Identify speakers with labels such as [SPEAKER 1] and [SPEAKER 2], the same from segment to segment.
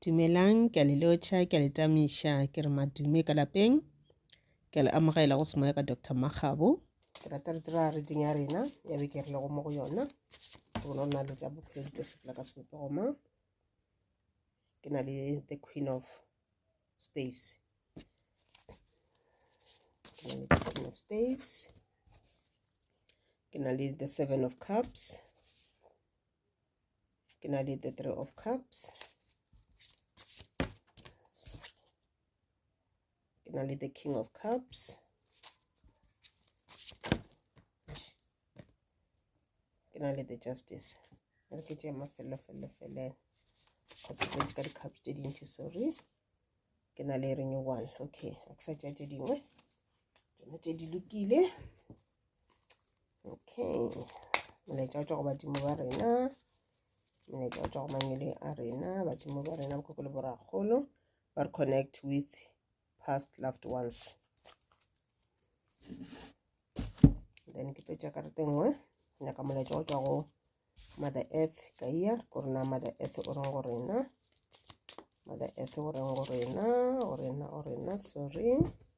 [SPEAKER 1] Dumelang, ke a le lotšha, ke a le tamiša, ke re madume ka lapeng. Ke a le amogela go semoya ka Doctor Makgabo. Ke rata re dira reading ya rena ya beke re lego mo go yona. Ke bona rena le ka bophelo di tlo sepela ka sebopego ma. Ke na le the queen of staves. Ke na le the queen of staves. Ke na le the seven of cups. ke na le the three of cups ke na le the king of cups ke na le the justice re ke tšee mafelelo felelo felele kgotsa tšedi ka di-cups tše dintši sorry ke na le renew one okay a ke sa tšea tše dingwe tsona tše di lokile okay molaetša wa tšwa go badimo ba rena molaetša wa tšwa go mangwele a rena badimo ba rena bokoko le borakgolo ba re connect with past loved ones then ke tlo tša karete nngwe nyaka molaetša wa tšwa go mother earth ka iya ko rena mother earth o reng go rena mother earth o reng go rena go rena go rena sorry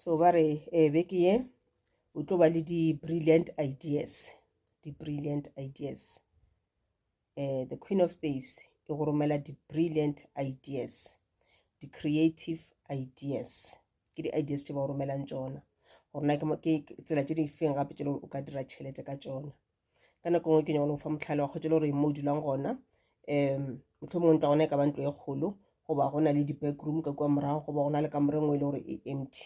[SPEAKER 1] so ba re um beke ye o tlo ba le di-brilliant ideas di-brilliant ideas um the queen of staves e go romela di-brilliant ideas di-creative ideas ke di-ideas tse ba go romelang tsona gore na ke tsela tse di feng gape tse o ka dira tšhelete ka tsona ka nako ngwe ke nyakone go fa motlhale wa kgotse le gore mo o dulang gona um motlho mongwe ntwa gona e ka ba ntlo e kgolo goba go na le di-backroom ka kua morago goba go na le kamore ngwe e le gore e empty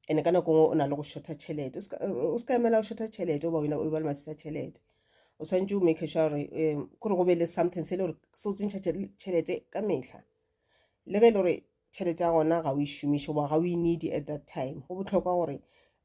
[SPEAKER 1] ande ka nako ngwe o na le go shortha tšhelete o se ka emela go shortha tšhelete oba wena o ba le masisa tšhelete o tshwanetse o make sure gore um kore go be le something se e le gore se o tsentšha tšhelete ka metlha le ge e le gore tšhelete ya gona ga o e šomiše goba ga o e needy at that time go botlhokwa gore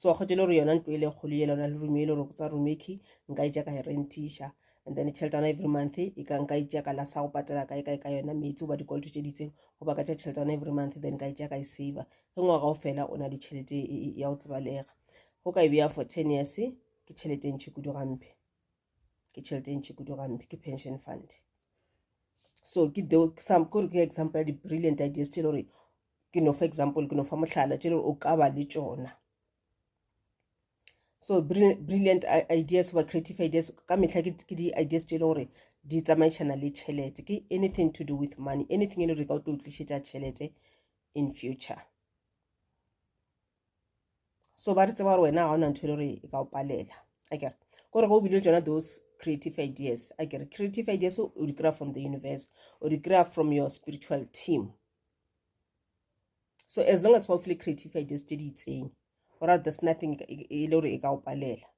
[SPEAKER 1] so kgotse e le gore yona ntlo e le kgolo yela ona le rume e le gore tsa rumeki nka e ka e rentiša and then tšheletana every month e ka nka e ka la sa go patela kae kae ka yona metsi goba dikoloto tše ditseng goba ka tša tšheletana every month then ka e ka e save ge ngwaga o fela o na le tšhelete e, e, e, ya go tsebalega go ka e beya for ten years ke tšhelete e ntšhi kudu gampe ke tšhelete e ntšhi kudu gampe ke pension fund so ke gore ke example ya di-brilliant ideas tše le gore ke no fa example ke no fa mohlala tše o ka ba le tšona so brilliant ideas goba creative ideas ka mehla ke di-ideas tše e le gore di tsamaišana le tšhelete ke anything to do with money anything e le gore ka o tlo tlišetša tšhelete in future so ba re tseba gore wena ga o na ntho e le gore e ka o palela a kere kore go bile tsona those creative ideas a kere creative ideas o di kry-a from the universe o di kry-a from your spiritual team so as long as fa o file creative ideas tse di itseng gore there's nothing e le gore e ka o palela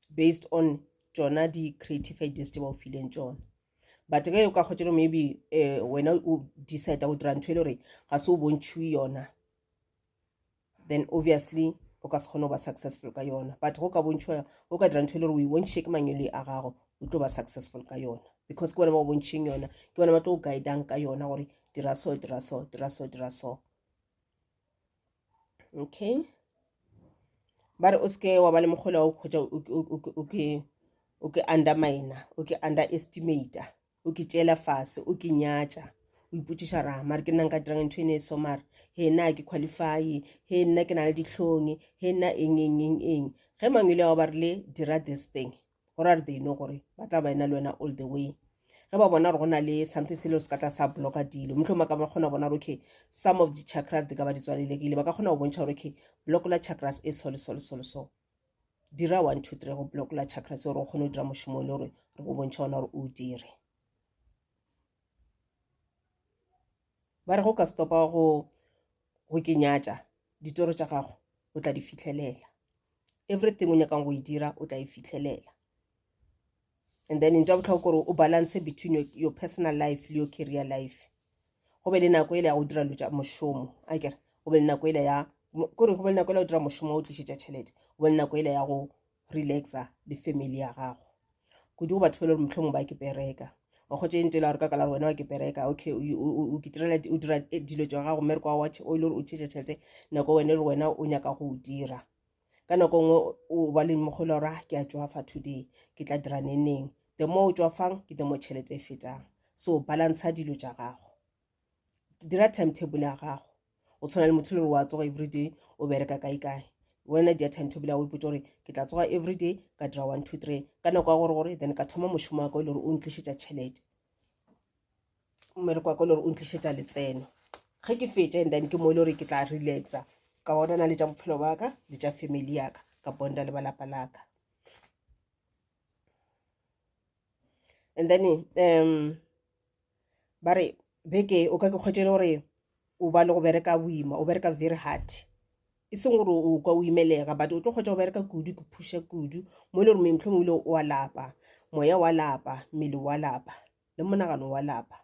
[SPEAKER 1] based on tsona di-creative ideas tse ba o fileng tsona but ge o ka kgotselo maybe um wena o decide go dira ntho e le gore ga se o bontšhiwe yona then obviously o ka se kgone go ba successful ka yona but go ka bontšhwa o ka dira ntho e le gore o e bontšhe ke mangwele a gago o tlo ba successful ka yona because ke bona ba go bontšheng yona ke bona ba tlo go guidang ka yona gore dira so dira so dira so dira so okay ba re o seke wa ba le mokgola wa go kgwetsa o ke undermina o ke underestimata o ke tšeela fase o ke nyatša o ipotšiša ra mare ke nna nka dirang ntho e ne e so mare he nna ke qualify he nna ke na le ditlhong he nna eng eng eng eng ge mangwele ao ba rile dira this thing go ra re they know gore ba tla ba ena le wena all the way ge ba bona gore go na le something se le se ka tla sa blocka dilo motlho ma ka ba kgona bona gore okay some of the chakras di ka ba di tswalelekile ba ka kgona go bontšha gore okay block la chakras e so le so le so le so dira one two three go block la chakra se gore o kgone go dira mošomo le gore re go bontšha ona gore o dire ba re go ka stopa go go ke nyatša ditoro tša gago o tla di fitlhelela everything o nyakang go e dira o tla e fitlhelela and then ntwa botlhoko gore o balance between your, your personal life le your career life go be le nako ele ya go dira lo tša mošomo a kere go be le nako ele ya kore go be le nako ele ya go dira mošomo wa go tlišetša tšhelete go be le nako ele ya go relaxa le family ya gago kudu go batho ba le gore motlhong ba ke bereka wa kgotse ntse la gore ka kala wena wa ke bereka okay o kitirela o dira eh, dilo tša gago mmereko wa watch o ile gore o tšhetša tšhelete nako wena le wena o nyaka go o dira ka nako nngwe o ba le mogolo ra ke a tšwafa today ke tla dira neneng the more o tšwafang ke the more tšhelete e fetang so balantsha dilo tša gago dira timetable ya gago o tshwana le motho le gore wa tsoga everyday o bereka kae kae wena dia timetable ya o ipotsa gore ke tla tsoga everyday ka dira one two three ka nako ya gore gore then ka thoma mošomo wa ka o le gore o ntlišetša tšhelete mmele kwa ka le gore o ntlišetša letseno ge ke feta and then ke mo e le gore ke tla relaxa ka bonana le tša bophelo ba ka le tša family yaka ka bonda le balapa laka and then um ba re beke o ka ke kgwetše le gore o ba le go bereka boima o bereka very hard e seng gore o ka o imelega but o tlo kgwetša go bereka kudu ke phuša kudu mo e le gore metlhong o ile wa lapa moya wa lapa mmele wa lapa le monagano wa lapa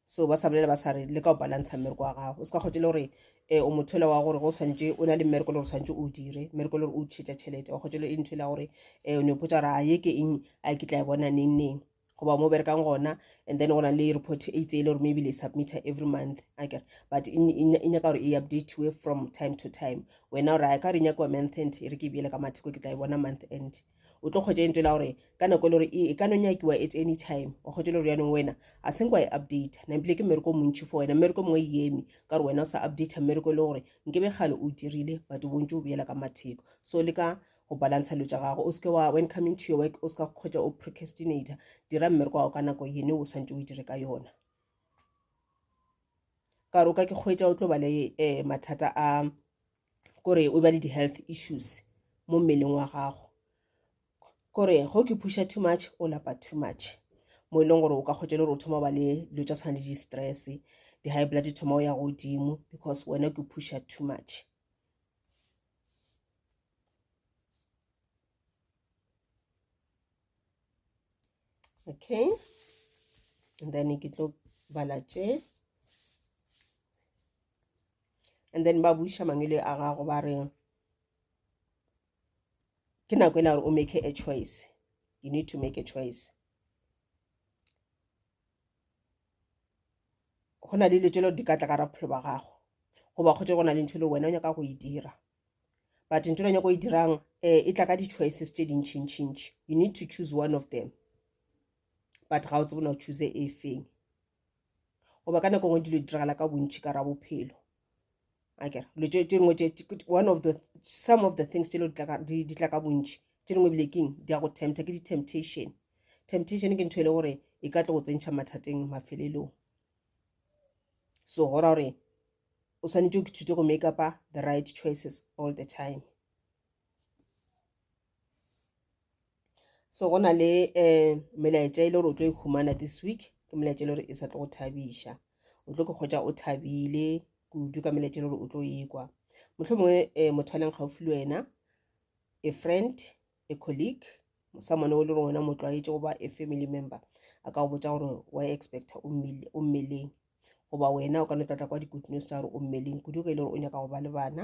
[SPEAKER 1] so ba sa bolela ba sa re le ka o balantsha mmereko wa gago o se ka kgotse le gore um o motho ele wa gore go swantse o na le mmereko le gore swantse o dire mmereko le gore o tšhetša tšhelete wa kgotse le e ntho ele ya gore um o ne o potsa gore a ye ke eng a ke tla e bona neng neng goba mo berekang gona and then go na le report e itse e le gore maybe le submitter every month akere but e nyaka gore e updateiwe from time to time wena gore a ka re nyakiwa month end e re ke bjele ka matheko ke tla e bona month end o tlo kgwetša entwe la gore ka nako e le gore e, e ka no nyakiwa at any time wa kgwetša le gore yanong wena a seng kwa e update na ebile ke mmereko o montši for wena mmereko mongwe e eme ka gore wena o sa update mmereko e le gore nke be gale o dirile but o bontse o beela ka matheko so le ka go balantsha dilo tša gago o seke wa when coming to your work o seka kgwetša o procrastinator dira mmereko wa gago ka nako yene o swantse o dire ka yona ka gore o ka ke kgwetša o tlo bale um mathata a kore o ba le di-health issues mo mmeleng wa gago kore go ke phuša too much o lapa too much mo e leng gore o ka kgwetsa le gore o thoma ba le dilo tsa tshwana le di-stress di-high blood di thoma o ya godimo because wena ke phuša too much okay and then ke tlo bala tše and then ba buša mangwele a gago ba re ke nako e la gore o make a choice you need to make a choice go na le dilo tse le di ka tla ka ra bophelo ba gago goba kgotse go na le ntho e le wena o nyaka go e dira but ntho le nyako e dirang um e tla ka di-choices tse dintšhintšhintšhi you need to choose one of them but ga o tsebona o choose e feng goba ka nako ngwe dilo di diragala ka bontšhi ka ra bophelo akere dilo tše dingwe one of the some of the things tše di tla ka bontšhi tše dingwe bile keng di ya go tempta ke di-temptation temptation ke ntho e le gore e ka tlo go tsentšha mathateng mafelelong so go ra gore o swanetše o kithute go make upa the right choices all the time so go na le um melaetša e le gore o tlo e humana this week ke melaetša e le gore e sa tlo go thabiša o tlo ke kgwetsa o thabile kudu ka melaetša e le gore o tlo ekwa motlho mongwe um eh, motho a leng gaufi le wena a friend a colleague someone o le gore wena motlwaetše goba a family member a ka go botsa gore wa expecta o mmeleng goba wena o ka no tlatla kwa di-good news tsa gore o mmeleng kudu ge e le gore o nyaka go ba le bana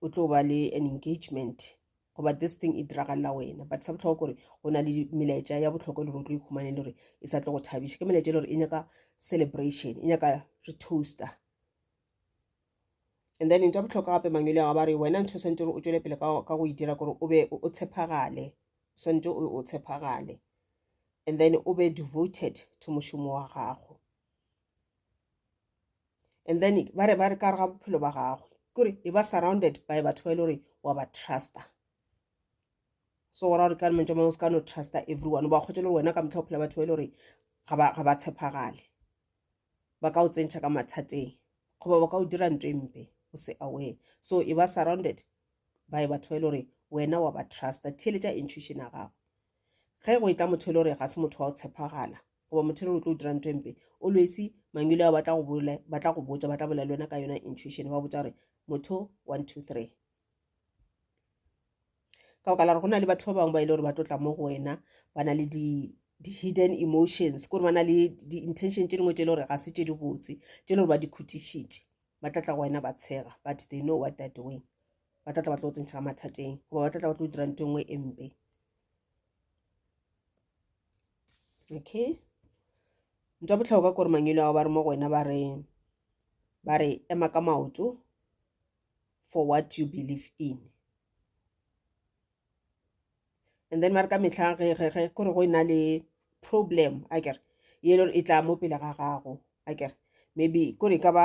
[SPEAKER 1] o tlo ba le an engagement goba this thing e diragalela wena but sa botlhokwa gore go na le melaetša ya botlhokwa le gore o tlo ikhumane le gore e sa tlo go thabiša ke melaetša le gore e nyaka celebration e nyaka re toaster and then ntho ya botlhokwa gape mangwele ga ba re wena ntho o swantse gore o tswele pele ka go e dira gore o be o tshepagale o swantse o tshepagale and then o be devoted to mošomo wa gago and then ba re ba re ka re ga bophelo ba gagwe kore e ba surrounded by batho ba e le gore wa ba trusta so gora gore ka re mantse mangwe se ka no trusta everyone ba kgotse le gore wena ka motlha o phela batho ba e le gore ga ba tshepagale ba ka o tsentšha ka mathateng goba ba ka o dira ntho e mpe o se aware so e ba surrounded by batho ba e le gore wena wa ba trusta theeletša intuition ya gago ge go e tla motho e le gore ga se motho wa go tshepagala goba motho re o tlo dira ntho empe o lwesi mangwele ao ba tla go bole ba tla go botsa ba tla bolela le wena ka yona intuition ba botsa gore motho one two three ka baka la gore go na le batho ba bangwe ba e le gore ba tlotla mo go wena ba na le di di-hidden emotions kore ba na le di-intention tse dingwe tse e le gore ga se tse di botse tse e le gore ba di khutišitše ba tlatla go wena ba tshega but they know what they're doing ba tlatla ba tlo go tsentšha mathateng goba ba tlatla ba tlo dira nto e nngwe e mpe okay ntwa botlhokwa kore mangelo ao ba re mo go wena ba re ba re ema ka maoto for what you believe in and then ba re ka metlha kore go e na le problem a kere ye e lore e tla mo pele ga gago a kere maybe kore e ka ba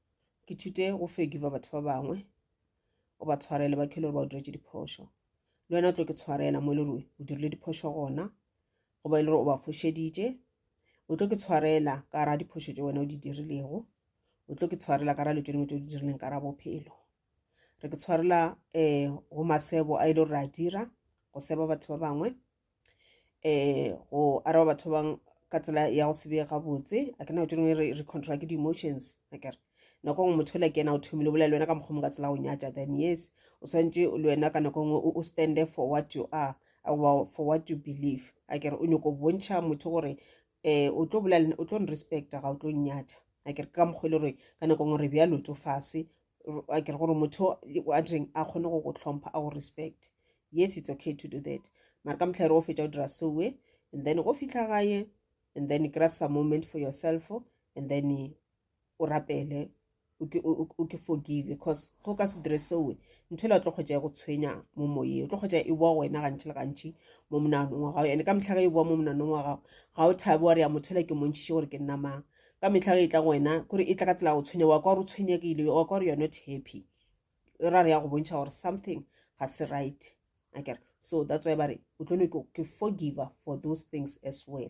[SPEAKER 1] ke thute go forgiva batho ba bangwe o ba tshwarele ba khele gore ba o diretše diphošo le wena o tlo ke tshwarela mo e le gore o dirile diphošo gona goba e le gore o ba fošeditše o tlo ke tshwarela ka ra diphošo tše wena o di dirilego o tlo ke tshwarela ka ra le tšone motho o di dirileng ka ra bophelo re ke tshwarela um go masebo a e le gore re a dira go seba batho ba bangwe eh go araba batho ba bangwe ka tsela ya go se be gabotse a ke na tšone e re re controla ke di-emotions a kere nako nngwe motho le ke ena o thomile o bolela le wena ka mokgwa mo ka tsela go nyatša then yes o swantše le wena ka nako nngwe o stande for what you are goba for what you believe a kere o nyoko bontšha motho gore eh o tlo bolela o tlo respecta ga o tlo nnyatha a kere ka mokgwa e le gore ka nako ngwe re bjalo tso fase a kere gore motho a direng a kgone go go tlhompha a go respect yes it's okay to do that mara ka motlha e re go fetsa o dira soe and then go fitlha gae and then kry some moment for yourself and then o rapele o ke forgive because go ka se dire seoe ntho ele o tlo kgotsa ya go tshwenya mo moyeng o tlo kgotsa e boa wena gantši le gantši mo monanong wa gago ande ka metlha ge e boa mo monanong wa gago ga o thabe wa re ya motho ele ke montšhiše gore ke nna mang ka metlha ge e tla go wena kore e tla ka tsela ya go tshwenya wa ka gore o tshwenyegile wa ka gore you're not happy e ra re ya go bontšha gore something ga se right akere so that's why ba re o tlo ne ke forgiver for those things as well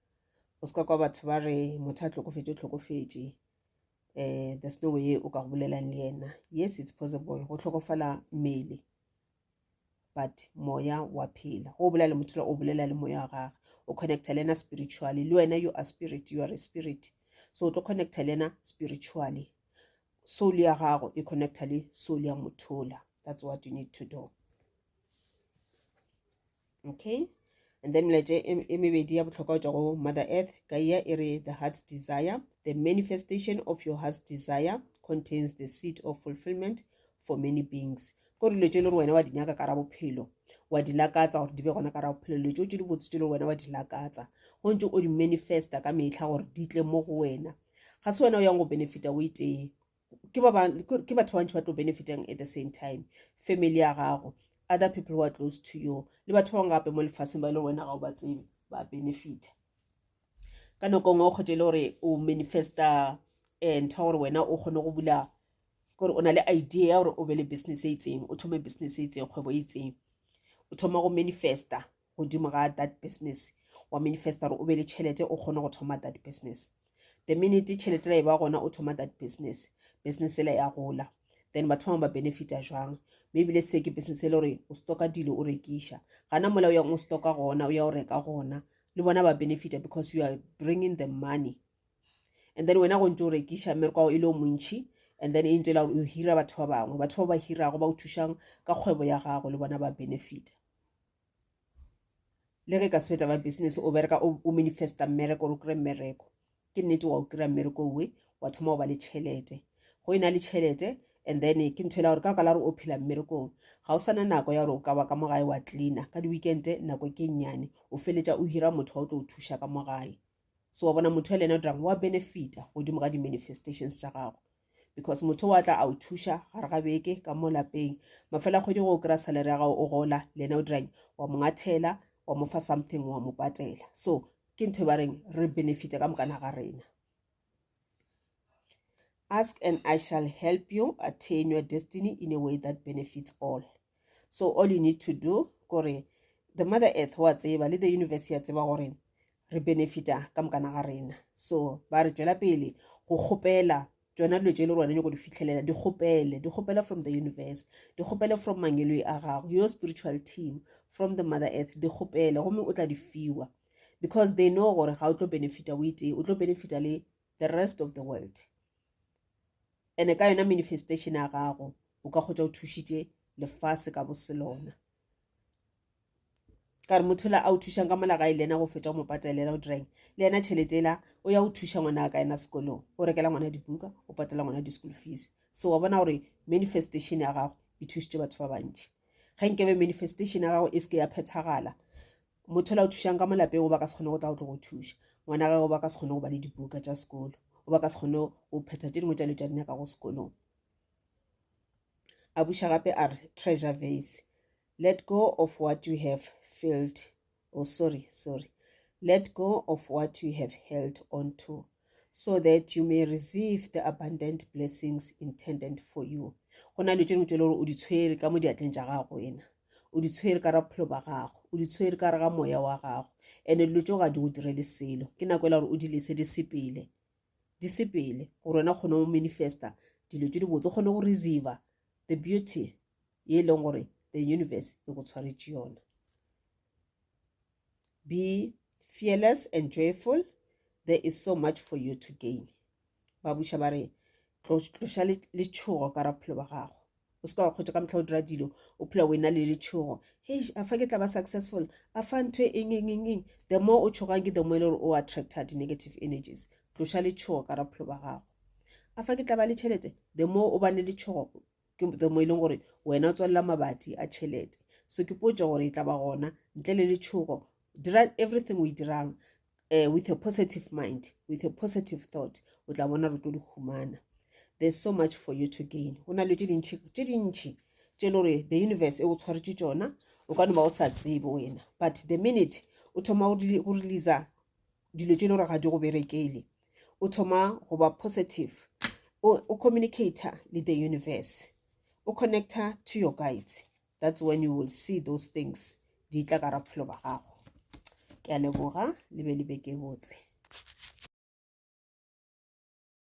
[SPEAKER 1] o se ka kwa batho ba re motho a tlokofetše tlokofetše um there's no way o ka go bolelang le yena yes it's possible go tlhokofala mmele but moya wa phela go bolela le motho o bolela le moya wa gage o connecta le ena spiritually le wena you are spirit you are a spirit so o tlo connecta le ena spiritually soul ya gago e connecta le soul ya mothola that's what you need to do okay and then melaetša e, e mebedi ya bohlokwa go tšwa go mother earth gaia e re the heart's desire the manifestation of your heart's desire contains the seed of fulfillment for many beings ko dilo tše e le gore wena wa di nyaka kara bophelo wa di lakatsa gore di be gona kara bophelo dilo tšeo tše di botse tše e le gore wena wa di lakatsa go ntse o di manifesta ka metlha gore di tle mo go wena ga se wena o yang go benefita o itee ke ba bang ke ke batho ba bantši ba tlo benefitang at the same time family ya gago other people who are close to you le batho ba bangwe gape mo lefaseng ba e leng wena ga o ba tsebe ba benefita ka nako nngwe o kgwete e le gore o manifesta um ntho ya gore wena o kgone go bula gore o na le idea ya gore o be le business e itseng o thome business e itseng kgwebo e itseng o thoma go manifesta godimo ga that business wa manifesta gore o be le tšhelete o kgone go thoma that business the minute tšhelete la e ba gona o thoma that business business ela ya gola then batho bangwe ba benefita jwang mme ebile se ke business e le gore o stoka dilo o rekiša gana mola o yang o stoka gona o ya o reka gona le bona ba benefita because you are bringing the money and then wena go ntse o rekiša mmerekwago e le o montšhi and then e ntse e la gore o hira batho ba bangwe batho ba ba hirago ba o thušang ka kgwebo ya gago le bona ba benefita le ge ka sebetsa ba business o bereka o manifesta mmereko gore o kry mmereko ke nnete wa o kry mmereko owe wa thoma go ba le tšhelete go e na le tšhelete and then ke ntho e la gore ka baka la gore o phela mmerekong ga o sana nako ya gore o ka ba ka mo gae wa cleana ka di-weekende nako ke nnyane o feletša o hira motho wa o tlo o thuša ka mo gae so wa bona motho le ena o dirang wa benefita godimo ga di-manifestations tša gago because motho wa tla a o thuša gare ga beke ka mo lapeng mafela kgwedi go o kry-a salary ya gago o gola le ena o dirang wa mo ngathela wa mo fa something wa mo patela so ke ntho e ba reng re benefita ka mokana ga rena Ask and I shall help you attain your destiny in a way that benefits all. So all you need to do kore the mother earth wa tseba le the universe ya tseba gore re benefita ka mokana ga rena. So ba re tšwela pele go kgopela tsona dilo tše le rone nyako di fitlhelela di kgopele di kgopela from the universe di kgopele from mangeloi a gago your spiritual team from the mother earth di kgopele gomme o tla di fiwa because they know gore ga o tlo benefita o itee o tlo benefita le the rest of the world ene ka yona manifestation ya gago o ka kgotsa o thušitše lefase ka boselona ka re motho la a o thušang ka molagae le ena go feta o mo patelela o direng le ena tšhelete ela o ya o thuša ngwana a ka ena sekolong o rekela ngwana dibuka o patela ngwana di-school fees so wa bona gore manifestation ya gago e thušitše batho ba bantši ge nkebe manifestation ya gago e seke ya phethagala Motho yola o thušang ka mo lapeng goba ka se kgone go tla go tlo go thuša ngwana gage goba ka se kgone go ba le dibuka tša sekolo goba ka se kgone go phetha tše dingwe tša dilo tša di nyakago sekolong a buša gape a re treasure vase let go of what you have filled oh sorry sorry let go of what you have held on to so that you may receive the abundant blessings intended for you go na le tšeno tšele gore o di tshwere ka mo diatleng tša gago ena o di tshwere ka ra bophelo ba gago o di tshwere ka re ga moya wa gago and-e dilo tšeo ga di go direle selo ke nako e la gore o di lese di sepele di sepele gore wena kgone go manifesta dilo tše di botse o kgone go receiver the beauty ye e leng gore the universe e go tshwaretše yona Be fearless and joyful, there is so much for you to gain. Ba buša ba re, tloša letšhogo ka ra bophelo ba gago. O se ka wa kgotša ka mohla o dira dilo, o phela o ena le letšhogo. Hei, a fa ke tla ba successful, a fa ntho e eng eng eng eng. The more o tšhogang ke the more e le gore o attracta di-negative energies. Tloša letšhogo ka ra bophelo ba gago. A fa ke tla ba le tšhelete, the more o ba ne letšhogo, ke the mo e leng gore wena o tswalela mabati a tšhelete so ke potso gore e tla ba gona ntle le letšhogo dira everything o e dirang uh, with a positive mind with a positive thought o tla bona re tlo di humana there's so much for you to gain go na le tše dintšhi tše dintšhi tše le gore the universe e go tshwaretše tšona o ka no ba o sa tsebe wena but the minute o thoma go releasa dilo tše le gore ga di go berekele o thoma go ba positive o communicator le the universe o connector to your guides that's when you will see those things di tla ka ra bophelo ba gago ke a leboga le be le beke botse